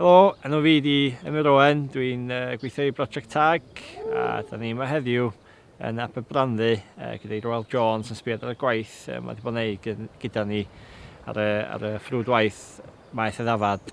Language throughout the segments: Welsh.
Helo, enw fi di Emyr Owen, dwi'n uh, gweithio i Brosiect Tag a da ni yma heddiw yn Aberbranddu uh, gyda i Royal Jones yn sbiad ar y gwaith uh, mae wedi bod yn ei gyda ni ar y, ar y ffrwd waith maeth y ddafad.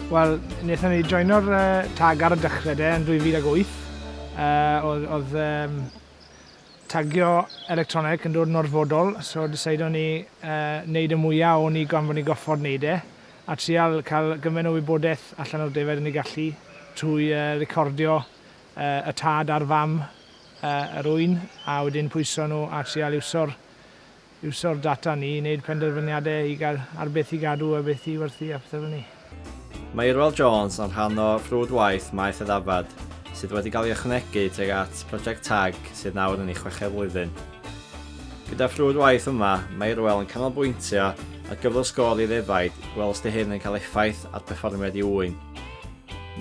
Wel, wnaethon ni joino'r uh, tag ar y dechrau de yn 2008. Uh, oedd, oedd um, tagio electronic yn dod yn orfodol, so decide o'n ni uh, wneud y mwyaf o'n ni gan fod ni goffod wneud e, a trial cael gymaint o wybodaeth allan o'r defaid yn ei gallu trwy uh, recordio uh, y tad a'r fam uh, yr wy'n, a wedyn pwyso nhw a trial iwsio'r iwsio'r data ni i wneud penderfyniadau i gael ar beth i gadw a beth i werthu a pethau fel 'ny. Mae Irwell Jones yn rhan o frwd waith Maeth y Ddafad sydd wedi cael ei ychwanegu tuag at Project Tag sydd nawr yn ei chweched flwyddyn. Gyda'r frwd waith yma, mae Irwell yn canolbwyntio ar gyflwr sgôr i ddefaid i weld os 'di hyn yn cael effaith ar berfformiad i ŵyn.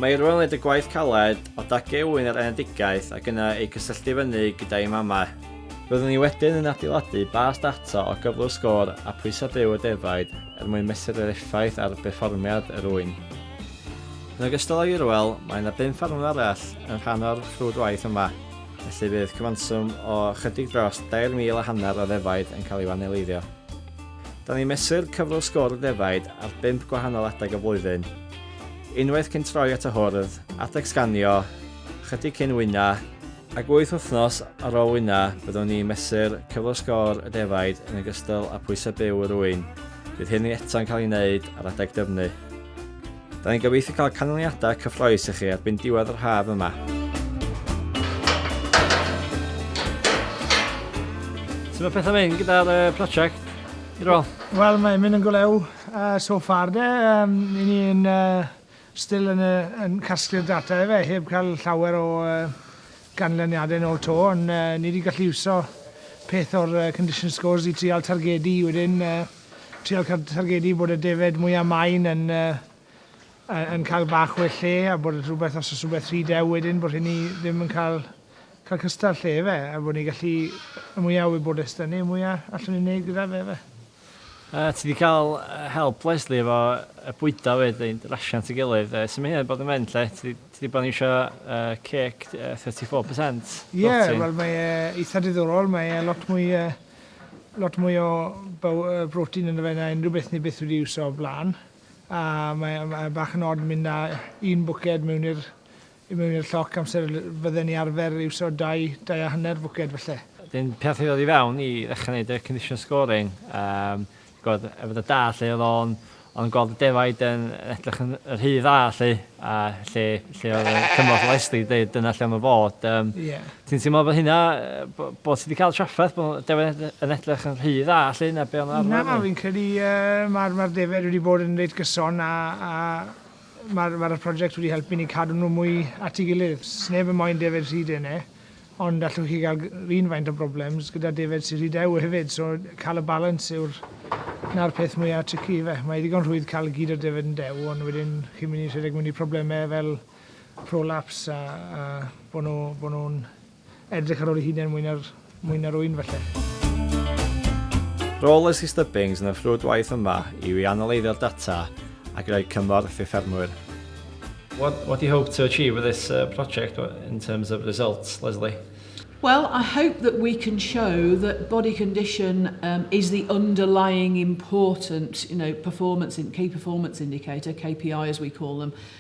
Mae Irwell yn neud y gwaith caled o dagu ŵyn yr enedigaeth ac yna eu cysylltu fyny gyda'i mamau. Roeddwn ni wedyn yn adeiladu bars data o gyflwr sgôr a phwysau byw y defaid er mwyn mesur yr effaith ar berfformiad yr ŵyn. Yn ogystal â Irwell, mae yna bum ffarmwr arall yn rhan o'r rhwydwaith yma, felly bydd cyfanswm o ychydig dros 3,000 a hanner o ddefaid yn cael eu aneleiddio. Da ni'n mesur cyflwr sgôr y defaid ar bump gwahanol adeg y flwyddyn, unwaith cyn troi at y hwrdd, adeg sganio, ychydig cyn wyna, Ac wyth wythnos ar ôl wyna, byddwn ni'n mesur cyflwr sgôr y defaid yn ogystal â phwysau byw yr ŵyn. Bydd hynny eto'n cael ei wneud ar adeg dyfnu. Da ni'n gobeithio cael canlyniadau cyffroes i chi erbyn diwedd yr haf yma. Sut mae pethau'n mynd gyda'r uh, prosiect? Wel, mae'n mynd yn golew uh, so far de. Um, ni'n uh, Still yn yy yn casglu'r data efe, heb cael llawer o yy ganlyniadau nôl 'to, ond yy ni 'di gallu iwso peth o'r yy condition scores i trial targedu wedyn yy trial car- targedu bod y defaid mwya main yn yy yy yn cael bach well lle a bod y rhywbeth os o's rhywbeth rhy dew wedyn bod rheini ddim yn cael cael cystell lle efe a bod ni gallu y mwya o wybodeth 'dy ni y mwya allwn ni neud gyda fe efe. Yy ti di ca'l yy help Lesley efo y bwyda fyd yn rasio at ei gilydd yy su' ma' hynna di bod yn mynd 'lly ti di ti di bo' yn iwsio yy ceg yy thirty four percent protein? Ie wel mae e itha diddorol mae e lot mwy yy lot mwy o bow- yy brotein ynddo fe na unrhyw beth ni byth wedi iwso o'r bla'n a mae e mae e bach yn od myn' â un bwced mewn i'r I mewn i'r lloc amser fydden ni arfer iwso dau, dau a hanner fwced falle. Wedyn pan nath i ddod i fewn i ddechra neud y condition scoring yym gw'od efo dy dad 'lly o'dd o'n o'dd o'n gweld y defaid yn edrych yn yn rhy dda 'lly a lle lle o'dd y cymorth o Leslie'n deud dyna lle am y fod yym... Ie. ...ti'n teimlo bo hynna yy bo- bo' ti 'di ca'l trafferth bo' defaid yn yn edrych yn rhy dda 'lly na be' o' 'na arfer 'lly? Na fi'n credu yy ma'r ma'r defaid wedi bod yn reit gyson a a Mae'r mae'r project wedi helpu ni cadw nhw mwy at ei gilydd. Sneb yn moyn defaid rhy dene, ond allwch chi gael run faint o broblems gyda defaid sy'n rhy dew hefyd, so cael y balans yw'r 'na'r peth mwya tricky ife. Mae ddigon rhwydd cael gyd o defaid yn dew, ond wedyn chi'n mynd i rhedeg mewn i problemau fel prolapse a a bod nhw bod nhw'n Edrych ar ôl ei hunain mwy na'r, mwy na'r ŵyn falle. Rôl Leslie Stubbings yn y ffrwd waith yma yw i analeiddio'r data ac i roi cymorth i ffermwyr. What, what do you hope to achieve with this uh, project in terms of results, Leslie? Well, I hope that we can show that body condition um, is the underlying important, you know, performance in key performance indicator (KPI) as we call them,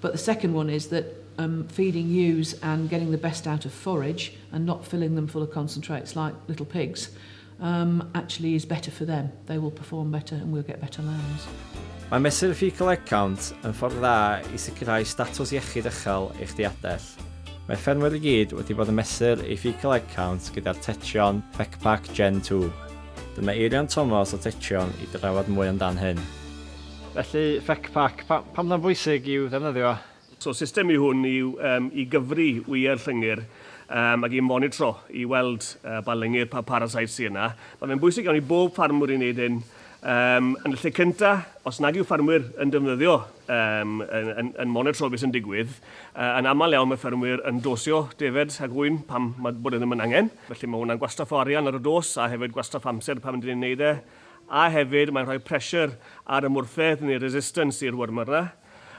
But the second one is that um feeding ewes and getting the best out of forage and not filling them full of concentrates like little pigs um actually is better for them. They will perform better and we'll get better lambs. Mae mesur Fecal Egg Count yn ffordd dda i sicrhau statws iechyd uchel eich diadell. Mae ffermwyr i gyd wedi bod yn mesur ei Fecal Egg Count gyda'r Techion FecPac Gen 2. Dyma Eirian Tomos o Techion i drafod mwy amdan hyn. Felly, FECPAC, pa, pam na'n bwysig i'w ddefnyddio? So, system yw hwn i, um, i gyfri wyau'r llyngyr um, ac i monitro i weld uh, pa lyngyr, pa parasite sy'n yna. Mae fe'n bwysig iawn i bob ffarmwr i wneud hyn um, yn y lle cynta, os nag yw ffarmwyr yn defnyddio, um, yn, yn, yn monitro beth sy'n digwydd, uh, yn aml iawn mae ffermwyr yn dosio defed ac wy'n pam mae bod e ddim yn angen. Felly mae hwnna'n gwastraff o arian ar y dos a hefyd gwastraff amser pan ydyn ni'n neud e. a hefyd mae'n rhoi pressure ar y mwrthedd neu resistance i'r wormer 'na.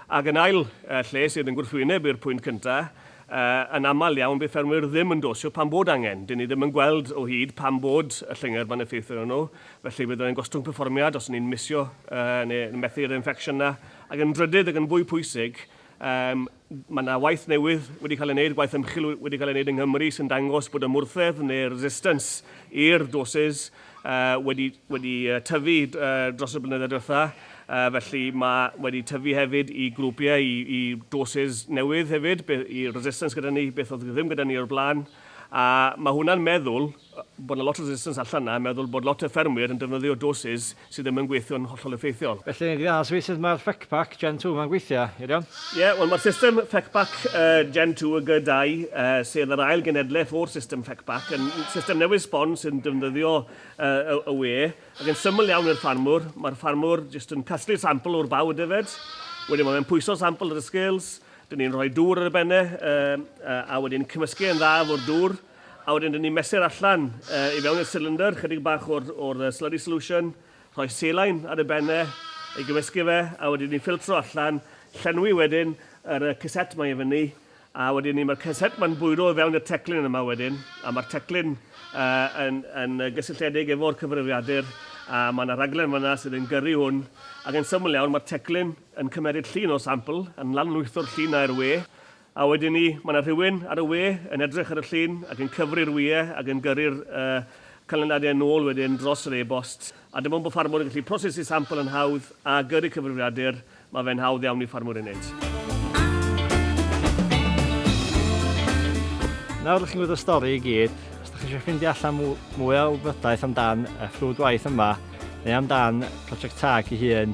Ac yn ail lle, sydd yn gwrthwyneb i'r pwynt cynta, yn aml iawn bydd ffermwyr ddim yn dosio pan bod angen. Dyn ni ddim yn gweld o hyd pan bod y llyngyr 'ma'n effeithio arnyn nhw, felly bydd e'n gostwng perfformiad os 'yn ni'n misio neu methu'r infection 'na. Ac yn drydydd ac yn fwy pwysig, Mae yna waith newydd wedi cael ei wneud, gwaith ymchwil wedi cael ei wneud yng Nghymru sy'n dangos bod y mwrthedd neu resistance i'r doses uh, wedi, wedi tyfu uh, dros y blynyddoedd diwetha. Uh, felly mae wedi tyfu hefyd i grwpiau, i, i doses newydd hefyd, i resistance gyda ni, beth oedd ddim gyda ni o'r blaen. A mae hwnna'n meddwl bod yna lot o resistance allan yna, meddwl bod lot o ffermwyr yn defnyddio doses Sy ddim yn gweithio'n hollol effeithiol. Felly yn gynharach sut sut mae'r Fecpac Gen 2 ma'n gweithio, Eirion? Ie, wel mae'r system Fecpac Gen 2 y gy dau, sef yr ail genhedlaeth o'r system Fecpac, yn system newydd sbon sy'n defnyddio y wê, ac yn syml iawn i'r ffarmwr, mae'r ffarmwr jyst yn casglu'r sampl o'r baw y defaid, wedyn mae fe'n pwyso'r sampl ar y scales, 'dyn ni'n rhoi dŵr ar y benne, a wedyn cymysgu e'n dda efo'r dŵr, A wedyn rydyn ni'n mesur allan i fewn i'r cylinder chydig bach o'r, o'r slurry solution, rhoi selain ar ei ben e, ei gymysgu fe, a wedyn ni'n ffiltro allan, llenwi wedyn yr y ceset mae i fyny, a wedyn ni mae'r ceset mae'n bwyro i fewn i'r teclyn yma wedyn, a mae'r teclyn uh, yn, yn gysylltiedig efo'r cyfrifiadur, a mae yna raglen fyna sydd yn gyrru hwn, ac yn syml iawn mae'r teclyn yn cymeryd llun o sampl, yn lanlwytho'r llun na i'r we, A wedyn 'ny, mae 'na rhywun ar y we yn edrych ar y llun ac yn cyfri'r wyau ac yn gyrru'r canlyniadau yn ôl wedyn dros yr e-bost. A dim ond bod ffarmwr yn gallu prosesu sampl yn hawdd a gyrru cyfrifiadur, mae fe'n hawdd iawn i ffarmwr ei wneud. Nawr dych chi'n gwybod y stori i gyd, os dych chi eisiau ffeindio allan mwy o wybodaeth amdan y ffrwd waith yma neu amdan Project Tag ei hun,